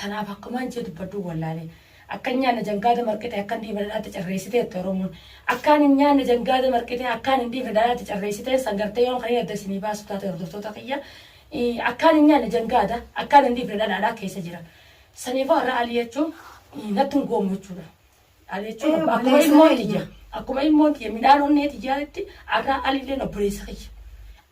Tanaaf akkumaan jee dubbadhuu wallaalee. Akka hin nyaanne jangaada marqitee akka hin dhiifne dhadhaatti carreessite jette Oromoon. Akkaan hin nyaanne jangaada marqitee akkaan hin dhiifne dhadhaatti carreessiteen san gartee yoon kaniin adda isinii baasu taate hordoftoota kiyya. Akkaan hin nyaanne jangaada akkaan hin dhiifne dhadhaadhaa keessa jira. Saniifuu har'a Alii jechuun natti hin goomu jechuudha. Ani jechuun Ee, akkuma obboleessa ilmoon keenya. tiyya akkuma ilmoon tiyya midhaan onnee tiyyaatti arraa alilleen obboleessa kiyya.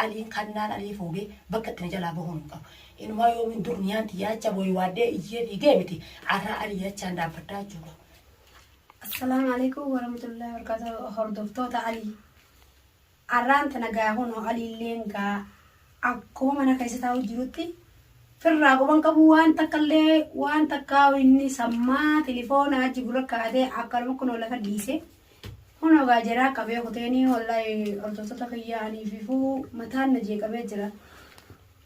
Aliin kannaan alii fuudhee bakka itti na jalaa bahuun hin qabu. Inumaa yoomiin dur niyaan tiyya acha booyi waaddee iyyee fiigee miti arraa alii achaan dhaabbadhaa jechuudha. Assalaamu alaikum warahmatullahi wabarakatuh hordoftoota Alii. Arraan tana gaa kunoo Aliilleen gaa akkuma mana keessa taa'u jirutti firraa quba hin qabu waan takkallee waan takkaa inni sammaa tilifoona achi gurra kaa'atee akkanuma kunoo lafa dhiise. Kunoo gaa jeraa qabee kuteenii wallahi hordoftoota kiyyaa anii fifuu mataan na jeeqamee jira.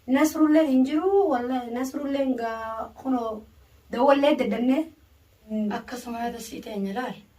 Nasrulleen hin jiru wallahi Nasrulleen gaa kunoo dawwallee daddannee akkasuma yaada sii teenya laal.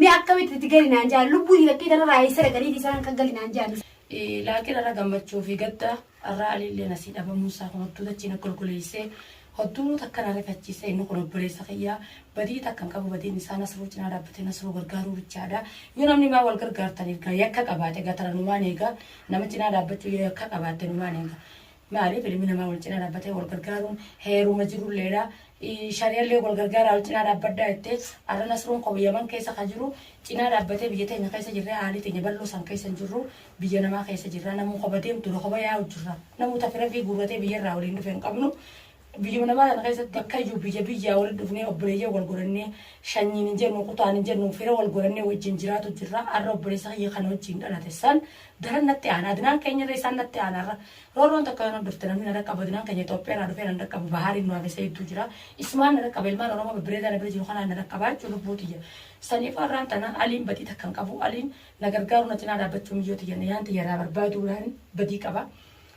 Mee akkamitti itti gali naan jaan lubbuu fakkii kana raayee sira galii isaan akka gali naan jaan. Laakiin irra gammachuu fi gadda irraa alillee nasii dhabamuu isaa kun hottuu dachii na golgoleessee hottuu nu takka na rifachiise inni kun obboleessa kiyyaa badii takka hin qabu badiin isaa nasruu cinaa dhaabbatee nasruu gargaaruu bichaadha yoo namni maa wal gargaartan erga yakka qabaate gatara numaan eega nama cinaa dhaabbachuu yoo yakka qabaatte numaan eega Maaliif ilmi namaa wal cinaa dhaabbatee wal gargaaruun heeruma jirulleedha. Shari'allee wal gargaaraa wal cinaa dhaabbadhaa jette. Har'a Nasruun koo Yaman keessa ka jiru cinaa dhaabbatee biyya teenya keessa jirree haalii teenya bal'oo san keessa hin jirru. Biyya namaa keessa jirra. Namuu kopha deemtuudha. Kopha yaa'u jirra. Namuu ta fira ifii guurratee biyyarraa waliin dhufe hin qabnu. Biyyuma namaa tana keessatti bakkayyuu biyya biyyaa walitti dhufnee obboleeyyan wal godhannee shanyiin hin jennu, kutaan hin jennu, fira wal godhannee wajjin jiraatu jirra. Har'a obboleessa kiyya kan wajjin dhalate san daran natti aana. Adnaan keenyarra isaan natti aana har'a. Roorroon takka yoo na dhufte namni na dhaqqabu Adnaan keenya Itoophiyaa irraa dhufee na dhaqqabu Bahaariin nu hafee Sayidduu jira. Isumaan na dhaqqaba ilmaan Oromoo babbareedaa na bira jiru kanaan na dhaqqabaa jechuun lubbuu tiyya. Saniif har'aan tana Aliin badii takka hin qabu. Aliin na gargaaruu na cinaa dhaabbachuu miyyoo tiyya na yaan tiyya irraa barbaaduu dhaan badii qaba.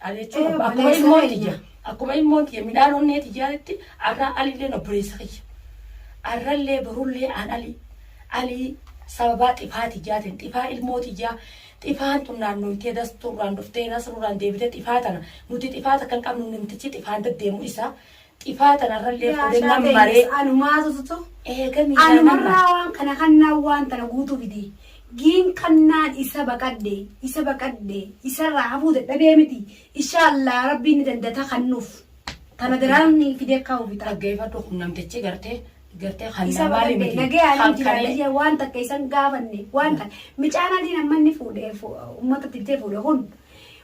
Ani jechuun Ee, akkuma obboleessa ilmoon keenya. tiyya akkuma ilmoon tiyya midhaan onnee tiyyaatti arraa alilleen obboleessa kiyya. Arrallee borullee aan ali alii sababaa xifaa tiyyaatiin xifaa ilmoo tiyyaa xifaan tun naannooytee dastuurraan dhuftee nasruurraan deebitee xifaa tana nuti xifaa takka hin qabnu namtichi xifaan deddeemu isa Xifaa tanarrallee Yaa fudhe nan shaatee maree. yes, anumaa tututu. Eega miidhaa nama. Anumarraa waan kana kannaan waan tana guutuu fide. Giin kannaan isa baqadde, isa baqadde, isarraa hafuu dadhabee miti. Inshaallah rabbiin ni dandata kannuuf. Tana daraan ni fidee akka hawwi ta'a. Dhaggeeffadhu kun namtichi gartee gartee kan Isa namaa baqadde miti. nagayaan Kan hin kanee. jiraanne waan takka isan gaafanne waan takka. Micaan adiin amma inni fuudhee fu- uummata tibtee fuudhe kun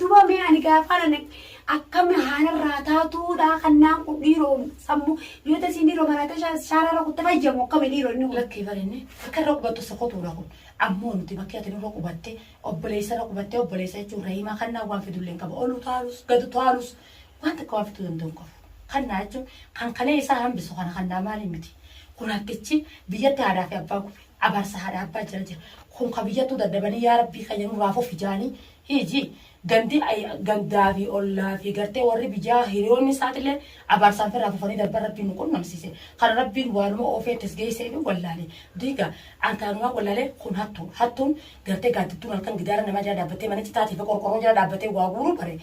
Duba mee ani gaafaan an akkam haanarraa taatuu dhaa kannaan kun dhiiroo sammu yoo tasiin dhiiroo maraatee shaararra kutte fayyamu akkami dhiiroo inni kun. Lakkii barinni akka irra qubattu sokotuudha kun. Ammoo nuti bakkee ati nurra qubatte obboleessa irra qubattee obboleessa jechuun rahimaa kannaan waan fidullee hin qabu. Olu taalus gadu taalus waan takka waan fiduu danda'u hin qabu. Kannaa jechuun kan kalee isaa hambisu kana kannaa maaliin miti. Kun hakkichi biyyatti haadhaa fi abbaa gube abaarsa haadhaa abbaa jira jira. Kun ka biyyattuu dadhabanii yaa rabbii kayya nurraa fufi jaanii Hiji, gandi, gandaa fi ollaa fi gartee warri biyyaa hiriyoonni isaatiilleen abaarsaan firraa fufanii darban Rabbiin nu qunnamsiise. Kana Rabbiin waanuma oofee itti as geesseef hin wallaale. Diiga, an kanumaan wallaale kun hattuu. Hattuun gartee gaaddidduun halkan gidaara namaa jala dhaabbattee mana citaatii fi qorqorroo jala dhaabbattee waa guuruu bare.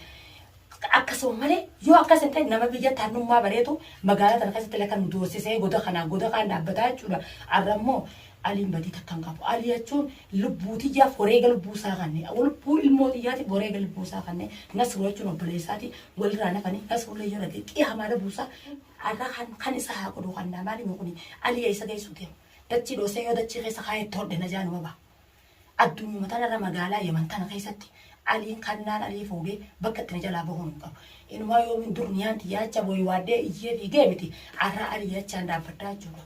Akkasuma malee yoo akkas hin ta'in nama biyya tarnummaa bareetu magaalaa tana keessatti illee kan nu doorsisee goda kanaa goda kaan dhaabbataa jechuudha. Arra immoo Aliin badii takka hin qabu. Ali jechuun lubbuu tiyyaaf wareega lubbuu isaa kanne. Lubbuu ilmoo tiyyaatiif wareega lubbuu isaa kanne. Nasruu jechuun obboleessaati walirraa nafani. Nasruu illee yoo dhagee qiyamaa na buusa. Arra kan kan isa haa godhu kannaa maalimi kuni Ali eessa geessu deema. Dachii dhoosee yoo dachii keessa kaayee todhe na jaanuma ba'a. Addunyuma tanarra magaalaa Yaman tana keessatti Aliin kannaan Alii fuudhee bakka itti na jalaa bahuun hin qabu. Inumaa yoomiin durniyaan tiyya acha woywaadhee iyyee fiigee miti arraa Alii achaan dhaabbadhaa jechuudha.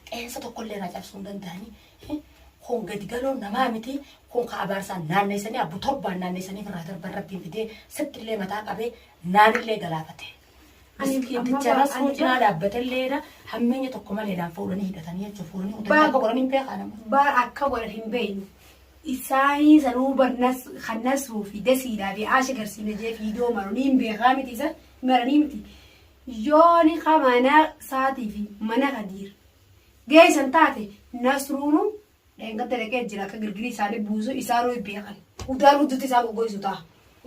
Qeensa tokkollee irraa cabsuu hin danda'anii. Kun gadi galoon namaa miti. Kun ka abaarsaan naanneessanii abbu torbaan naanneessanii ofirraa darban rabbiin fidee sittillee mataa qabee naanillee galaafatee. Miskiiticha rasuu cinaa dhaabbatilleedha. Hammeenya tokko maleedhaan fuudhanii hidhatanii jechuun fuudhanii mucaa akka godhan hin beekaa nama. Bar akka godhan hin beeknu. Isaanii sanuu barnas kan nasuu fi dasiidhaa fi aasha garsiina jee fiidoo maru ni hin beekaa miti isa maranii miti. Yooni ka mana saatii fi mana kadiir geessan taate nasruunu Dheengadda dhaqee jira akka girgirii isaanii buusu isaanuu hin beekan. Udaan hudduutti isaan goggoisu ta'a.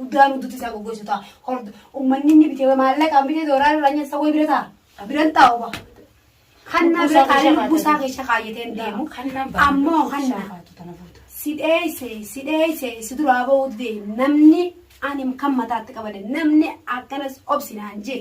Udaan hudduutti isaan goggoisu ta'a. Hordo ummanni inni bitee maallaqaan bitee doolaara irraa nyaata isa wayii bira ta'a. Biran taa'u ba. Hannaa bira taa'ee lubbuu isaa keessa kaayyatee hin deemu. Ammoo hannaa si dheeyse si dheeyse si duraa ba'uu dide namni ani kan mataatti qabade namni akkanas obsinaan jee.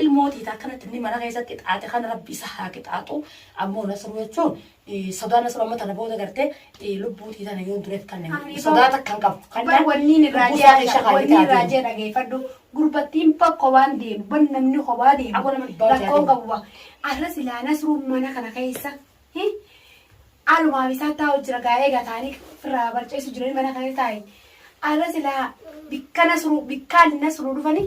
Ilmoo tiyya ta akkanatti inni mana keessa qixaaxe kana Rabbi isa haa qixaaxu. Ammoo Nasruu jechuun sodaa Nasruu amma tana booda gartee lubbuu tiyya tana yoon dureef kanne Ani sodaa boo- takka hin qabu. Kan Bar wanniin lubbuu irraa isaa keessa jee wanni irraa kaayitee jee dhageeffadhu gurbattiin bar kobaan deemu bar namni kobaa Aboo deemu nama dhibbaa hojjaa rakkoon deemu. qabu ba arra silaa nasruun mana kana keessa hi? alumaaf isaa taa'u jira gaa'ee gataanii firraa barceessu jiranii mana kana taa'e arra silaa bikka nasruu bikkaan nasruu dhufanii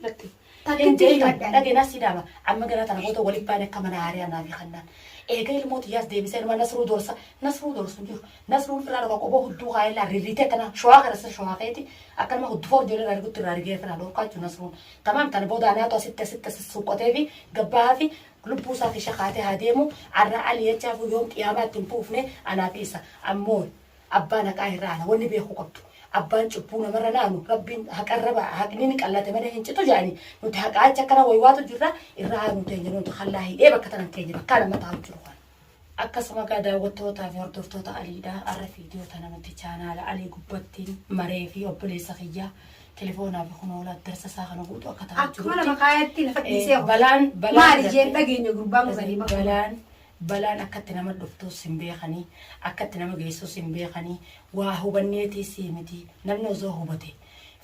Latti. Takkitti Deebi'an himadha. dhagee naa sii dhaaba. Amma garaa tana goota waliin baane akka mana haariyaa naa fi kannaan. Eega ilmoo tiyyaas deebisee numa nasruu dorsa. Nasruu dorsu hin jiru. Nasruun firraa dhorka qoboo hudduu kaa'ee laa rirriitee tana showaa kana sir showaa keeti. Akka nama huddu foor ijoollee irraa rigutti irraa rigee firraa dhorkaa jechuun nasruun. Tamaam tana booda anaatu asitti asitti asitti suuqqotee fi gabbaa fi lubbuu isaa fi shakaatee haa deemu. Arraa ali jechaa fi yoom qiyaamaatti hin fuufne anaa fi isa. Ammoo Abbaan haqaa hin ra'ana wanni beekuu qabdu abbaan cubbuu namarra naanu rabbiin haqarra ba'a haqni ni qallate malee hin citu jedhani nuti haqaa achi akkana waywaatu jirra irra haanu teenya nuti kallaa hidhee bakka tanan teenya bakka nama taa'u jiru kana. Akkasuma egaa daawwattootaa fi hordoftoota Aliidha har'a viidiyoo tana nuti chaanaala Alii gubbatti maree fi obboleessa kiyyaa telefoonaa fi kunoo lakkoofsa isaa kana guutu akka taa'u Akkuma jirutti nama kaayatti lafa dhiisee Eh, balaan balaan maali jeen dhageenya gurbaan kun sanii balaan Balaan akka itti nama dhuftuus hin beekani, akka itti nama geessuus hin beekani, waa hubanneetiis miti. Namni osoo hubate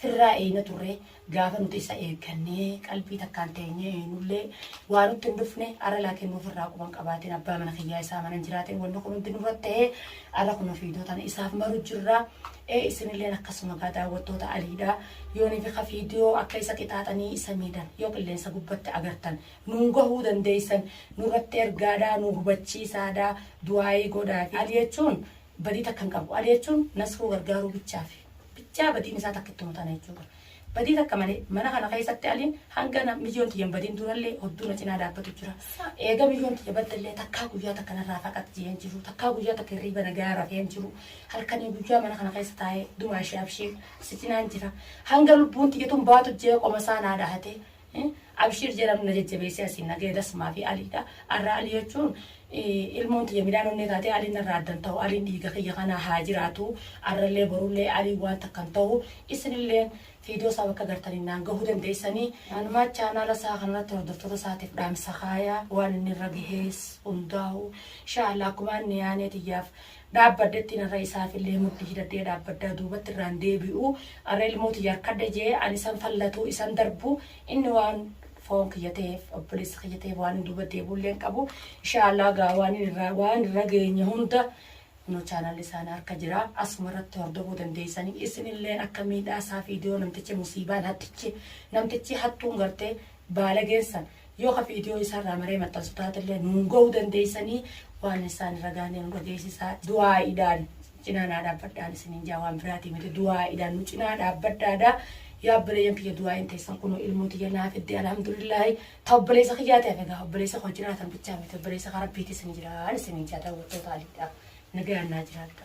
firraa eeyna turre, gaafa nuti isa eeggannee qalbii takkaan teenyee eeynullee waa nutti hin dhufne, arra laakiin nuuf irraa quba hin qabaatin abbaa mana kiyyaa isaa mana hin jiraatin wanni kun hundi nurratti tahee arra kunoo viidiyoo tana isaaf maru jirra. Ee isinilleen akkasuma gaa daawwattoota Aliidha. Yoonii fi ka viidiyoo akka isa qixaaxanii isa miidhan yoo qilleensa gubbatti agartan Nuun gahuu dandeessan nurratti ergaadhaa nuu hubachiisaadhaa du'aa'ii godhaafi Ali jechuun badii takka hin qabu Ali jechuun nasruu gargaaruu bichaafi bichaa badiin isaa takkittuma tana jechuudha badii takka malee mana kana keessatti Aliin hanga na miyyoon tiyya hin badin durallee hodduu na cinaa dhaabbatu jira eega miyyoon tiyya baddallee takkaa guyyaa takka narraa faqat jee hin jiru takkaa guyyaa takka hirriiba nagayaa rafee hin jiru halkanii guyyaa mana kana keessa taa'ee dumaa ishee abshiir si cinaan jira hanga lubbuun tiyya tun baatu jee qoma isaa naa dhahatee Abshiir jedhamu na jajjabeessee asiin na ga'e Dasmaa fi Aliidha. Arraa Alii jechuun ilmoon tiyya midhaan onnee taatee Aliin narraa addan ta'u Aliin dhiiga kiyya kana haa jiraatu arrallee borullee Aliin waan takkan ta'u isinillee fiidiyoo isaa bakka gartaniin naan gahuu dandeessanii anumaa chaanaala isaa kanarratti hordoftoota isaatiif dhaamsa kaaya waan inni irra gahees hundaa'u inshaallah akkumaan niyaanee tiyyaaf dhaabbadhetti narra isaafillee mudhii hidhadhee dhaabbadhaa duubatti irraa hin deebi'u arra ilmoo tiyya harkadhe jee ani isan fallatu isan darbu inni waan foon kiyya ta'eef obboleessa kiyya ta'eef waan hin duuba deebi'ullee hin qabu inshaallah gaa waan irra waan irra geenye hunda kunoo chaanaalli isaanii harka jira asuma irratti hordofuu dandeessanii isinilleen akka miidhaa isaa fiidiyoo namtichi musiibaan hattichi namtichi hattuun gartee baalageessan Yoo ka viidiyoo isaa irraa maree maxxansu taatellee nuun ga'uu dandeessanii waan isaan irra gaanee nu dhageessisaa du'aa'iidhaan cinaa naa dhaabbadhaan isiniin jaa waan biraatii miti du'aa'iidhaan nu cinaa dhaabbadhaadha yaa obboleeyyan kiyya du'aa'iin teessan kunoo ilmoo tiyya naa fidde alhamdulillaahi ta obboleessa kiyyaa ta'e egaa obboleessa koo jiraatan bichaa miti obboleessa ka rabbiitis ni jiraan isiniin jaa daawwattoota aliidha nagayaan naa jiraadha.